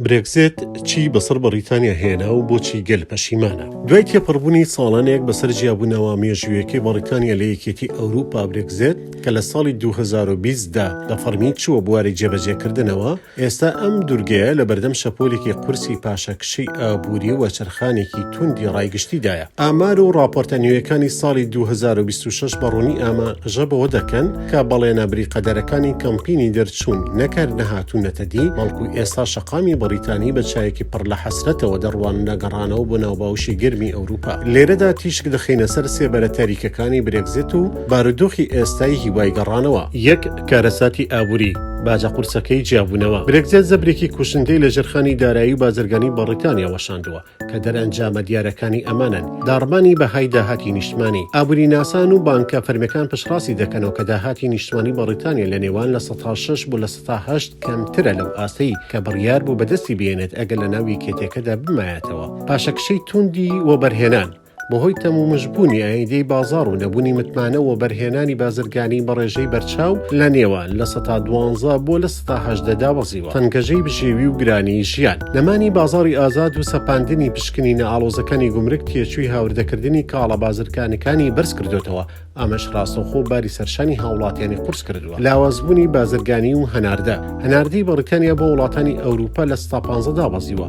برێکزێت چی بەسەر بەڕیتانیا هێنا و بۆچی گەل پەشیمانە دوای تێپەڕبوونی ساڵانێک بەسەر جیابوونەوە مێژوویەکەی بەڕیتانیا لە یەکێتی ئەوروپا برێکزێت کە لە ساڵی 2020دا لە فەرمی چووە بواری جێبەجێکردنەوە ئێستا ئەم دوورگەیە لە بەردەم شەپۆلێکی قورسی پاشەکشی ئابووری و چرخانێکی توندی ڕایگشتیدایە ئامار و ڕاپۆرتە نوێیەکانی ساڵی 2026 بەڕوونی ئاماژە بەوە دەکەن کە بەڵێنە بریقەدەرەکانی کەمپینی دەرچوون نەک هەر نەهاتوونەتە دی، بەڵکو ئێستا شەقامی بەڕیتانی بە چاوێکی پڕ لە حەسرەتەوە دەڕواننە گەڕانەوە بۆ ناو باوشی گەرمی ئەوروپا. لێرەدا تیشک دەخەینە سەر سێ بەرە تاریکەکانی برێگزیت و بارودۆخی ئێستای هیوای گەڕانەوە. یەک، کارەساتی ئابوری، باجە قورسەکەی جیابوونەوە. برێگزێت زەبرێکی کوشندەی لە ژێرخانی دارایی و بازرگانی بەڕیتانیا وەشاندووە. کە دەرئەنجامە دیارەکانی ئەمانەن، داڕمانی بەهای داهاتی نیشتمانی، ئابووریناسان و بانکە فەرمیەکان پشتڕاستی دەکەنەوە کە داهاتی نیشتمانی بەڕیتانیا لە نێوان لە سەتا شەش بۆ لە سەتا هەشت کەمترە لەو ئاستەی کە بڕیار بوو بەدەستی بهێنێت ئەگەر لەناو یەکێتیەکەدا بمایەتەوە پاشەکشەی تووندی وەبەرهێنان بەهۆی تەمومژ بوونی ئایندەی بازاڕ و نەبوونی متمانە وەبەرهێنانی بازرگانی بە ڕێژەی بەرچاو لە نێوە لە سەتا دوانزە بۆ لە سەتا هەژدە دابەزیوە تەنگەژەی بژێوی و گرانی ژیان. نەمانی بازاڕی ئازاد و سەپاندنی پشکنینە ئاڵۆزەکانی گومرگ تێچووی هاوردەکردنی کاڵا بازرگانەکانی بەرز کردۆتەوە، ئەمەش ڕاستەوخۆ باری سەرشانی هاوڵاتیانی قورس کردووە لاوازبوونی بازرگانی و هەناردە هەناردەی بەڕیتانیا بۆ وڵاتانی ئەوروپا لە ستا پانزە دابەزیوە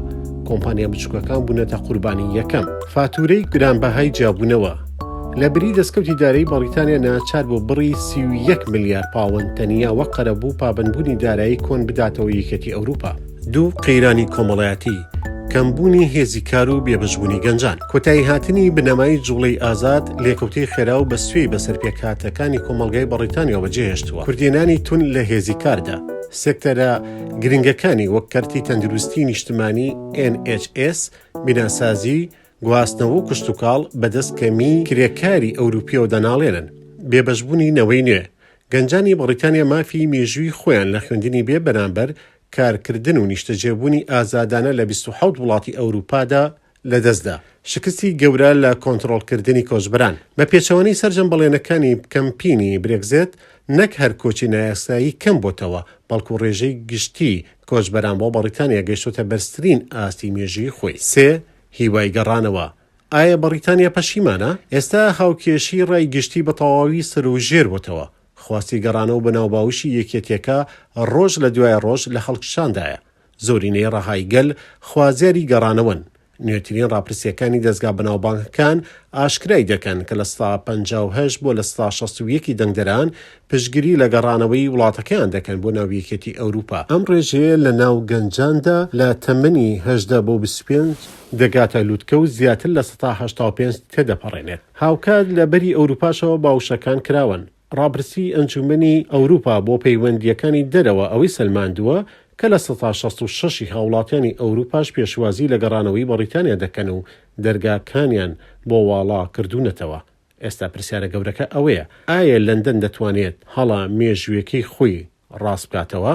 کۆمپانیا بچووکەکان بوونەتە قوربانی یەکەم فاتورەی گرانبەهای جیابوونەوە لە بری دەستکەوتی دارایی بەڕیتانیا ناچار بۆ بڕی سی و یەک ملیار پاوەند تەنیا وەک قەرەبوو پابەندبوونی دارایی کۆن بداتەوە یەکێتی ئەوروپا. دوو، قەیرانی کۆمەڵایەتی، کەمبوونی هێزی کار و بێبەشبوونی گەنجان، کۆتایی هاتنی بنەمای جوڵەی ئازاد، لێکەوتەی خێرا و بە سوێی بەسەر پێکهاتەکانی کۆمەڵگای بەڕیتانیاوە جێهێشتووە، کوردێنانی توند لە هێزی کاردا، سێکتەرە گرنگەکانی وەک کەرتی تەندروستی نیشتمانی، NHS، بیناسازی، گواستنەوە و کشتوکاڵ بە دەست کەمیی کرێکاری ئەوروپیەوە دەناڵێنن. بێبەشبوونی نەوەی نوێ، گەنجانی بەڕیتانیا مافی مێژووی خۆیان لە خوێندنی بێ بەرامبەر کارکردن و نیشتەجێبوونی ئازادانە لە بیست و حەوت وڵاتی ئەوروپادا لەدەستدا. شکستی گەورە لە کۆنتڕۆڵکردنی کۆچبەران. بە پێچەوانەی سەرجەم بەڵێنەکانی کەمپینی برێگزێت، نەک هەر کۆچی نایاسایی کەم بۆتەوە، بەڵکو ڕێژەی گشتی کۆچبەران بۆ بەڕیتانیا گەیشتۆتە بەرزترین ئاستی مێژووی خۆی. سێ، هیوای گەڕانەوە. ئایا بەڕیتانیا پەشیمانە؟ ئێستا هاوکێشی ڕای گشتی بە تەواوی سەروژێر بۆتەوە. خواستی گەڕانەوە بە ناوباوشی یەکێتیەکە ڕۆژ لە دوای ڕۆژ لە هەڵکشاندایە، زۆرینەی ڕەهای گەل خوازیاری گەڕانەوەن، نوێترین ڕاپرسیەکانی دەزگا بەناوبانگەکان ئاشکرای دەکەن کە لە سەدا پەنجا و هەشت بۆ لە سەدا شەست و یەک ی دەنگدەران پشتگری لە گەڕانەوەی وڵاتەکەیان دەکەن بۆ ناو یەکێتی ئەوروپا. ئەم ڕێژەیە لە ناو گەنجاندا لە تەمەنی هەژدە بۆ بیست و پێنج دەگاتە لوتکە و زیاتر لە سەدا هەشتا و پێنج تێدەپەڕێنێت. هاوکات لە بەری ئەوروپاشەوە باوشەکان کراوەن. ڕاپرسیی ئەنجوومەنی ئەوروپا بۆ پەیوەندییەکانی دەرەوە ئەوەی سەلماندووە کە لە سەتا شەست و شەش ی هاوڵاتیانی ئەوروپاش پێشوازی لە گەڕانەوەی بەڕیتانیا دەکەن و دەرگاکانیان بۆ واڵا کردوونەتەوە. ئێستا پرسیارە گەورەکە ئەوەیە، ئایا لەندەن دەتوانێت هەڵە مێژوویەکەی خۆی ڕاست بکاتەوە؟